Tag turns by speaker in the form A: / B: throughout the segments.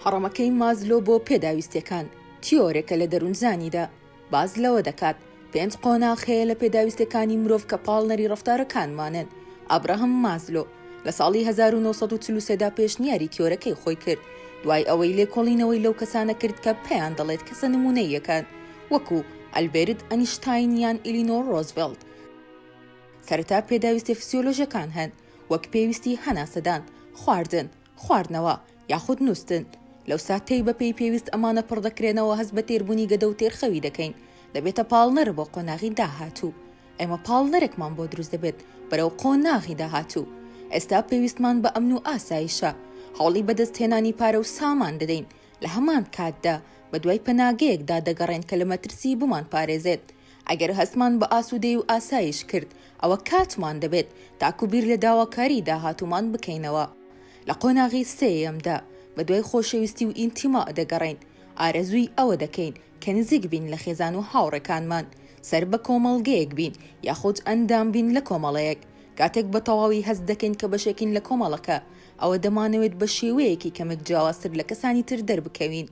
A: هەڕەمەکەی مازلۆ بۆ پێداویستیەکان تیۆرێکە لە دەروونزانیدا باس لەوە دەکات پێنج قۆناغ هەیە لە پێداویستیەکانی مرۆڤ کە پاڵنەری ڕەفتارەکانمانن، ئابراهام مازلۆ لە ساڵی هەزار و نۆ سەد و چل و سێ دا پێشنیاری تیۆرەکەی خۆی کرد دوای ئەوەی لێکۆڵینەوەی لەو کەسانە کرد کە پێیان دەڵێت کەسە نمونەییەکان وەکو ئەلبێرت ئەنیشتاین یان ئیلینۆر ڕۆزڤێڵت سەرەتا پێداویستیە فسیۆلۆژەکان هەن وەک پێویستی هەناسەدان، خواردن، خواردنەوە یاخود نوستن لەو ساتەی بە پێی پێویست ئەمانە پڕ دەکرێنەوە هەست بە تێربونی گەدە و تێرخەوی دەکەین دەبێتە پاڵنەر بۆ قۆناغی داهاتوو ئێمە پاڵنەرێکمان بۆ دروست دەبێت بەرەو قۆناغی داهاتوو ئێستا پێویستمان بە ئەمن و ئاسایشە هەوڵی بەدەست هێنانی پارە و سامان دەدەین لە هەمان کاتدا بە دوای پەناگەیەکدا دەگەڕێن کە لە مەترسی بمان پارێزێت ئەگەر هەستمان بە ئاسوودەیی و ئاسایش کرد، ئەوە کاتمان دەبێت تاکو بیر لە داواکاریی داهاتوومان بکەینەوە. لە قۆناغی سێیەمدا، بەدوای خۆشەویستی و ئینتیما دەگەڕێین، ئارەزووی ئەوە دەکەین کە نزیک بین لە خێزان و هاوڕێکانمان، سەر بە کۆمەڵگەیەک بین یاخود ئەندام بین لە کۆمەڵەیەک. کاتێک بە تەواوی هەست دەکەین کە بەشێکین لە کۆمەڵەکە، ئەوە دەمانەوێت بە شێوەیەکی کەمێک جیاوازتر لە کەسانی تر دەربکەوین.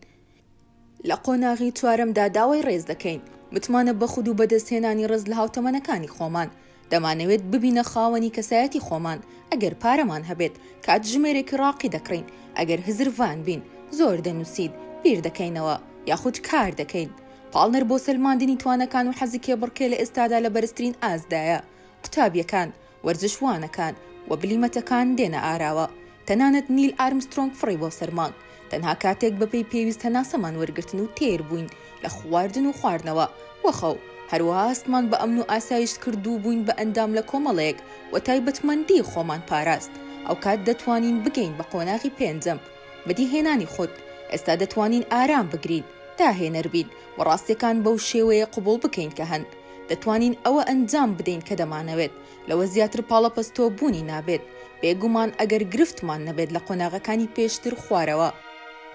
A: لە قۆناغی چوارەمدا داوای ڕێز دەکەین، متمانە بە خود و بەدەستهێنانی ڕێز لە هاوتەمەنەکانی خۆمان. دەمانەوێت ببینە خاوەنی کەسایەتی خۆمان، ئەگەر پارەمان هەبێت، کاتژمێرێکی ڕاقی دەکڕین، ئەگەر هزرڤان بین، زۆر دەنووسین، بیر دەکەینەوە، یاخود کار دەکەین. پاڵنەر بۆ سەلماندنی تواناکان و حەزی کێبڕکێ لە ئێستادا لە بەرزترین ئاستدایە. قوتابییەکان. وەرزشوانەکان و بلیمەتەکان دێنە ئاراوە، تەنانەت نیل ئارمسترۆنگ فڕی بۆ سەر مانگ، تەنها کاتێک بەپێی پێویست هەناسەمان وەرگرتن و تێر بووین لە خواردن و خواردنەوە و خەو، هەروەها هەستمان بە ئەمن و ئاسایشت کرد و بووین بە ئەندام لە کۆمەڵەیەک و تایبەتمەندی خۆمان پاراست، ئەوکات دەتوانین بگەین بە قۆناغی پێنجەم، بەدیهێنانی خود، ئێستا دەتوانین ئارام بگرین، داهێنەر بین و ڕاستیەکان بەو شێوەیە قبوڵ بکەین کە هەن. دەتوانین ئەوە ئەنجام بدەین کە دەمانەوێت، لەوە زیاتر پاڵەپەستۆ بوونی نابێت، بێگومان ئەگەر گرفتمان نەبێت لە قۆناغەکانی پێشتر خوارەوە.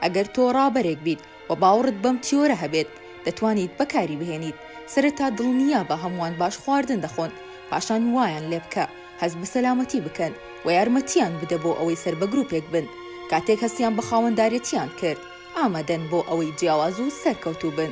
A: ئەگەر تۆ ڕابەرێک بیت و باوڕت بەم تیۆرە هەبێت، دەتوانیت بەکاری بهێنیت، سەرەتا دڵنیابە هەمووان باش خواردن دەخۆن، پاشان وایان لێبکە هەست بە سەلامەتی بکەن و یارمەتییان بدە بۆ ئەوەی سەر بە گروپێک بن، کاتێک هەستیان بە خاوەندارێتییان کرد، ئامادەن بۆ ئەوەی جیاواز و سەرکەوتوو بن.